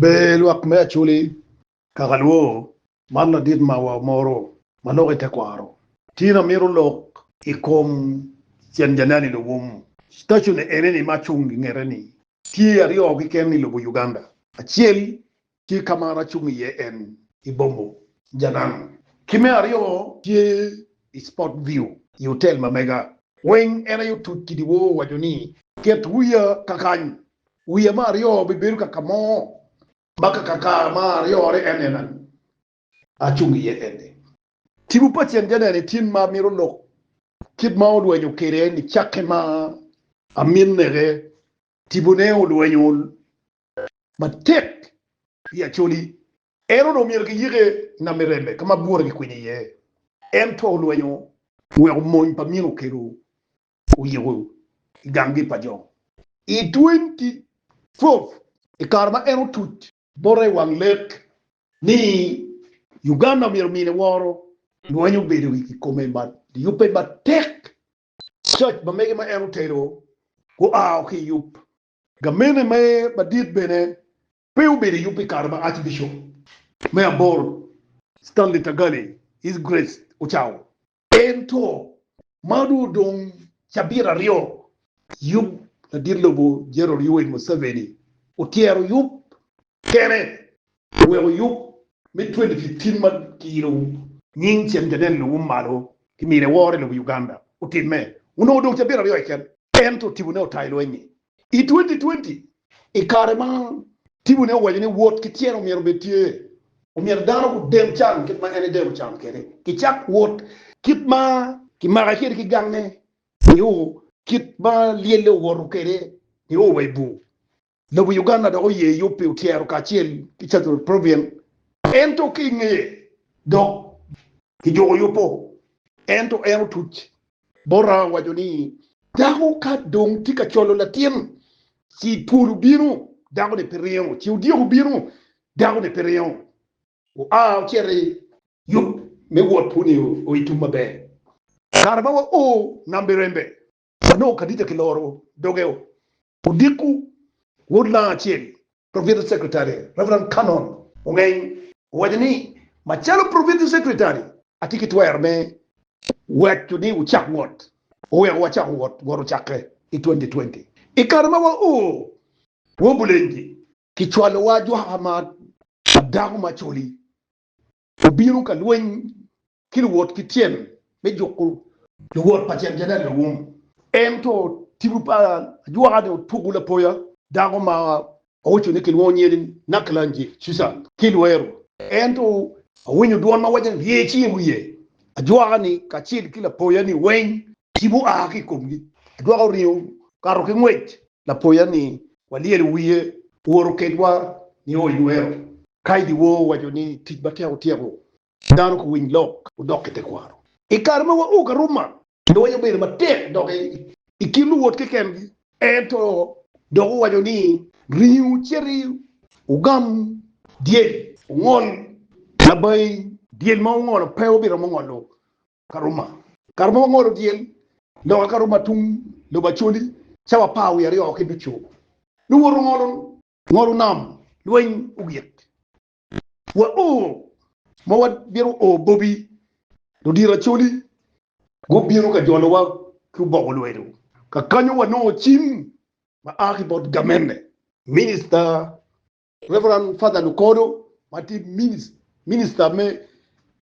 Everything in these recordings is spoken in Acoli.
Be lwak me Acholi kaka Luo man ladit ma wamoro ma loko i tekwaro? Tin amito lok i kom Cen Janani Luwum. Citacon eneni ma acung i ngete-ni tye aryo keken i lobo Uganda. Acel tye ka ma an acung iye en i Bombo, Janan, ki me aryo tye i Sport View i otel ma mega. Weng en aye otuc ki dyewor owaco ni, Ket wiya kakany Wiya me aryo bibedo ka ka mo. Ma ka ka kare ma aryone en en an acung iye en-ni. Tipo pa ceng te neno ityen ma amito lok kit ma olwenyo kede en i cakke ma amin neke. Tipo ne olwenyo matek i Acholi. En onongo myero ki yike i nam Mirembe ka ma bwota gikwinyo iye. En to olwenyo weko mony pa min okelo oyiko i gang-gi pa jo i 2012 i kare ma en otuc bote i wang lek ni Uganda myero omine woro lweny obedo i kikome ma yubbe matek. Coc ma mege ma en otelo gua woko ki i yub. Gamener me madit bene pe obedo i yub i kare ma Archbishop me aboro Stanley Tagalay, His Grace, ocawo Ento, ma dong odong cabit aryo, yub ladit lobo Gerald Yoweri Museveni otyero yub kene oweko yub me 2015 ma kiilo nying cen janeno um malo ki mine woro i lobo Uganda otimme. Onongo odong cabit aryo keken ento tipo ne otayo lweny-nyi. I 2020, i kare ma Tibune owaco ni wot ki tyene omyero obed tye, omyero dano gudem can kit ma en edemo can kwede ki cak wot, kit ma kimake kwede ki gange nio kit ma lyelle owoto kwede nio wa i bur. Lobo Uganda dok oye yubbe otyero kacel ki Central Provience ento ki ingeye dok kijuko yubbo ento en otuc Bota owaco ni, Dako ka dong tye ka colo latin, ci twol obino, dako-ni pe ringo, ci odyek obino, dako-ni pe ringo, oa ocito i. Yub me wot pwony o i tum maber. Kare ma wao nam birembe. Wanongo Kadija kiloro doge o Odiko wod langa acel, Provincial Secretary, Rev. Canon Ongeny owaco ni, Macalo Provincial Secretary, atye ki twero me waco ni wucak wot. Wuweko wacako wot. Wot ocakke i twenty twenty. I kare ma wao Wobulenje, kicwalowa jwaka ma dako ma coli Obino ka lweny ki luwot ki tyene me juko luwot pa tyen Janel Lawum. Ento tipo pa ajwoka-ni otwugo lapoya dako ma owaco ni kilwongo nyinge ni Nakilanji Susan ki Lueru. Ento awinyo dwon ma waco ni, Rye ci i wiye! Ajwoka-ni kacel ki lapoya-ni weng Tipo oa ki i komgi. Adwoka oringo okato ki ngwec. Lapoya ni walyel wiye owoto kedwa nio i lwero. Kaidi wo owaco ni tic matek otyeko dano ki winy lok odok ki tekwaro. I kare ma wa o ka Ruma. Loyo obedo matek dok i kin luwot kekengi. Ento dok owaco ni ringo ociti ogam dyel ongol labayi. Dyel ma ongolo pe obiromo ngolo Karuma. Karuma wangolo dyel loka Karuma tung lobo Acholi cawa apar wiye aryo ki ducu luwoto ngolo. Ngolo nam lweny ogik. Wa o ma wa bito o bobi ludito Acholi gu bino ka jolo wa ki oboko lwedo ka kanyo wa nongo cim ma a ki bot gamene. Minister Reverend Father Lukodo ma tye minister me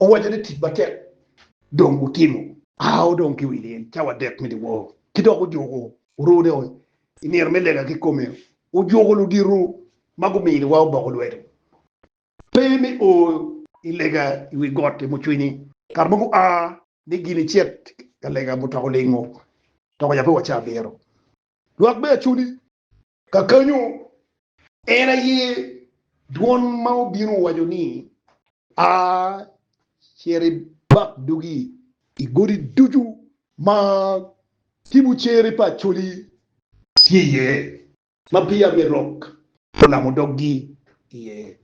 Owaco ni tic matek dong gutimo. A odong ki wi lyel cawa adek me dyewor ki dok ojuko oruu ne o i nino me lega kikome. Ojuko ludito ma gumini wa oboko lwedo pe me o i lega i wi got i mucwinyi. Kare ma gua ni ginicit ka lega mutoka olingo, mutoka oyabe wa ca abiro. Lwak me Acudi Kakanyo en aye dwon ma obino owaco ni, A, cer ibak dogi i godi ducu ma tipo cer pa Acholi tye iye, ma peya me rok olamo doggi iye.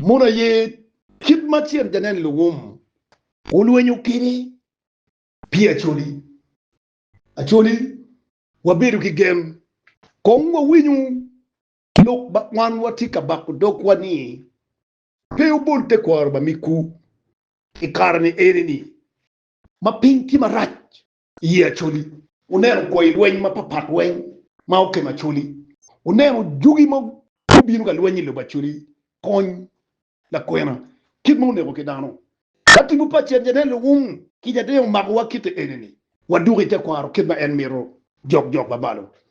Mono aye kit ma cer janen luwum olwenyo kwede pi Acholi. Acholi Wabedo ki gen. Kong wawinyu lok ma wan watye ka bako dogwa ni pe wubol tekwaro mamegwu i kare-ni eni-ni ma piny tye marac iye. Acholi wuneno koi lweny mapatpat weng ma okema Acholi. Wuneno jugi ma gubino ka lweny i lobo Acholi. Kony Lakwena, kit ma oneko ki dano. Ka timwu pa cecene luwung. Kica te omakowa kite eni-ni. Wadok i tekwaro kit ma en mito. Jok jok babalo